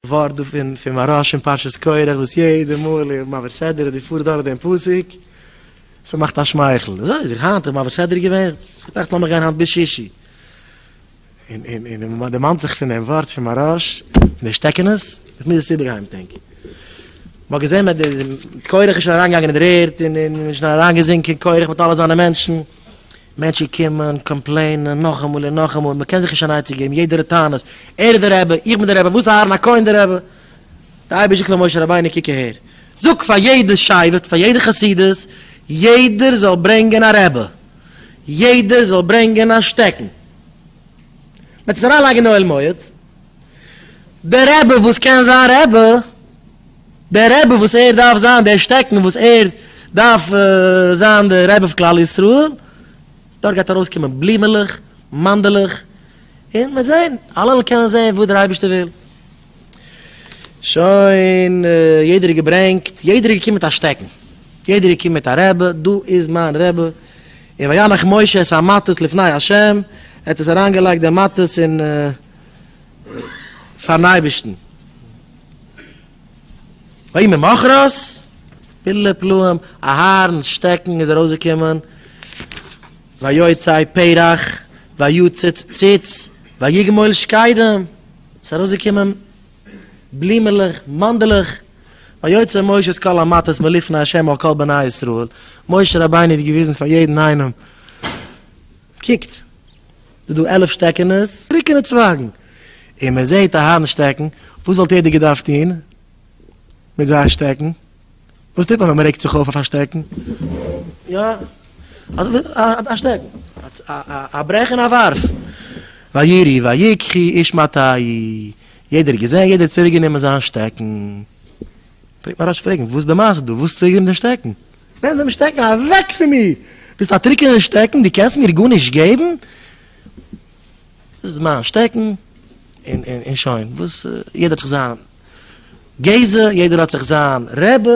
ווארט דא פון פון מהרש אין פרשת קרח וואס יעדע מאל איר מעביר סדרה דו פארסט דורך דעם פסוק ס'מאכט א שמייכל אזוי איז איך היינט איך מעביר סדרה געווען איך דאכט לאמיך גיין היינט ביז שישי און און און און מ'דערמאנט זיך פון דעם ווארט פון מהרש פון די שטעקענעס איך מוז עס איבערהיימטענקען מ'האט געזען אז קרח איז שוין אריינגעגאנגען אין דער ערד און און און שוין אריינגעזינקען קרח מיט אלע זיינע מענטשן. מענטשן קומען, קאמפלעינען, נאכאמאל און נאכאמאל, מען קען זיך נישט אן עצה געבן, יעדער האט טענות, ער איז די רבי, איך בין די רבי, וואס אהרן הכהן די רבי? די אייבערשטער זאגט פאר משה רבינו, קוק אהער, זאג פאר יעדע שבט, פאר יעדע חסידות, יעדער זאל ברענגען א רבי, יעדער זאל ברענגען א שטעקן, מען וועט עס אריינלייגן אין אוהל מועד. דער רבי וואס קען זיין רבי, דער רבי וואס ער דארף זיין, דער שטעקן וואס ער דארף זיין דער רבי פון כלל ישראל, דארט גייט ארויסקומען בלומעלעך, מאנדעלעך, און מען וועט זען, אלעמען קענען זען וואס דער אייבערשטער וויל. שוין, יעדער האט געברענגט, יעדער איז געקומען מיט א שטעקן, יעדער איז געקומען מיט א רבי, דא איז מיין רבי, און וינח משה את המטות לפני ה', ער האט עס אריינגעלייגט די מטות אין. פארן אייבערשטן. ויהי ממחרת, פלא פלאים, אהרן'ס שטעקן איז ארויסגעקומען, ויוצאי פרח, ויצוץ ציץ, ויגמול שקדים, ס'איז ארויסגעקומען בלומעלעך, מאנדלעך, ויוצא משה את כל המטות מלפני ה' על כל בני ישראל, משה רבינו האט געוויזן פאר יעדן איינעם, קוקט, ס'דא עלף שטעקענעס, טרוקענע צווייגן, און מען זעט א הארן שטעקן, וואס וואלט איהר דא געדארפט טוהן מיט זיי א שטעקן? וואס טוט מען ווען מען רעגט זיך אויף אויף א שטעקן? יא, א שטעקן, א ברעך און א ווארף. וירי ויקחי איש מטעי, יעדער האט געזעהן, יעדער האט צוריק גענומען זיין שטעקן. פרעגט מען ר' אש פרעגן, וואס איז די מעשה דא, וואס האט צוריק גענומען די שטעקן? נעם דעם שטעקן אוועק פון מיר! ביסט א טרוקענער שטעקן, דו קענסט מיר גארנישט געבן! דאס איז מיין שטעקן, און שוין. וואס, יעדער האט זיך זיין גזע, יעדער האט זיך זיין רבי.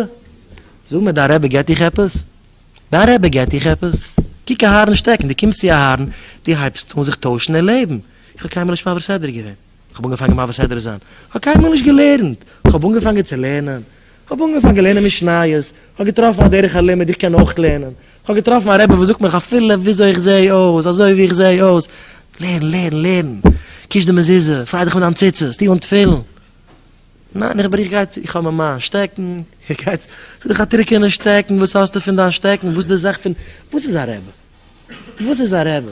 זאג מיר, דיין רבי געבט דיך עפעס? דיין רבי געבט דיך עפעס? קוק אהרן שטעקן, דו קומסט צו אהרן, דו הייבסט אן זיך טוישן אין לעבן. איך האב קיינמאל נישט מפר סדר געווען. כ'האב אנגעפאנגען מעביר סדרה זיין, כ'האב קיינמאל נישט געלערנט, כ'האב אנגעפאנגען צו לערנען, כ'האב אנגעפאנגען לערנען משניות, כ'האב געטראפן א דרך הלימוד איך קען אויך לערנען, כ'האב געטראפן א רבי וואס זאגט מיך אפילו וויאזוי איך זעה אויס, אזוי ווי איך זעה אויס, לערן, לערן, לערן, קיש די מזוזה, פריי דיך מיט דיין ציצית, טו אן תפילין. ניין איך בריך גייט צו, איך האב מיר מיין שטעקן, איך גיי צו, ס'איז דאך א טרוקענע שטעקן, וואס האסטו פון דיין שטעקן, וואס איז די זאך פון, וואס איז א רבי? וואס איז א רבי?